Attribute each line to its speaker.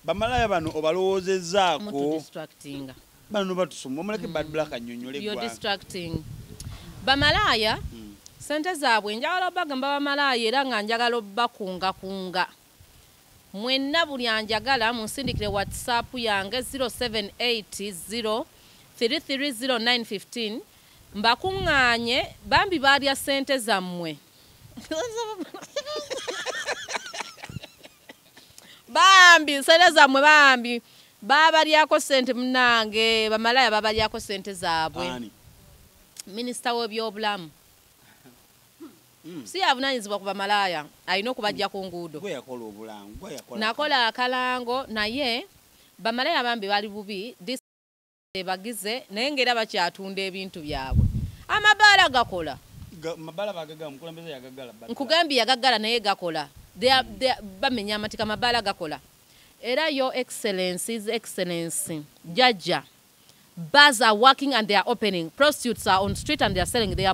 Speaker 1: Bamalaya bano obalowoozezzaako. Mutu distracting.
Speaker 2: Bano batusumba
Speaker 1: omuleke mm. bad black mm. annyonnyole gwa. You're distracting.
Speaker 2: Bamalaya mm. sente zaabwe njagala obagamba bamalaya era nga njagala obakunga kunga. Mwenna buli anjagala munsindikire WhatsApp yange 0780 330915 mbakuŋŋaanye bambi baalya ssente zammwe bambi nsente zammwe bambi babalyako sente munange bamalaya babalyako sente zaabwe minisita w'ebyobulamu hmm. si yavunanyizibwa ku bamalaaya alina okubajja ku nguudo nakola akalango naye bamalaya bambi bali bubi bebagize naye nga era bakyatunda ebintu byabwe amabaala gakola nkugambye yagagala naye gakola bamenya amatika amabaala gakola era yo excellence is excellence jajja bars are working and they are opening prostitutes are on street and they are selling their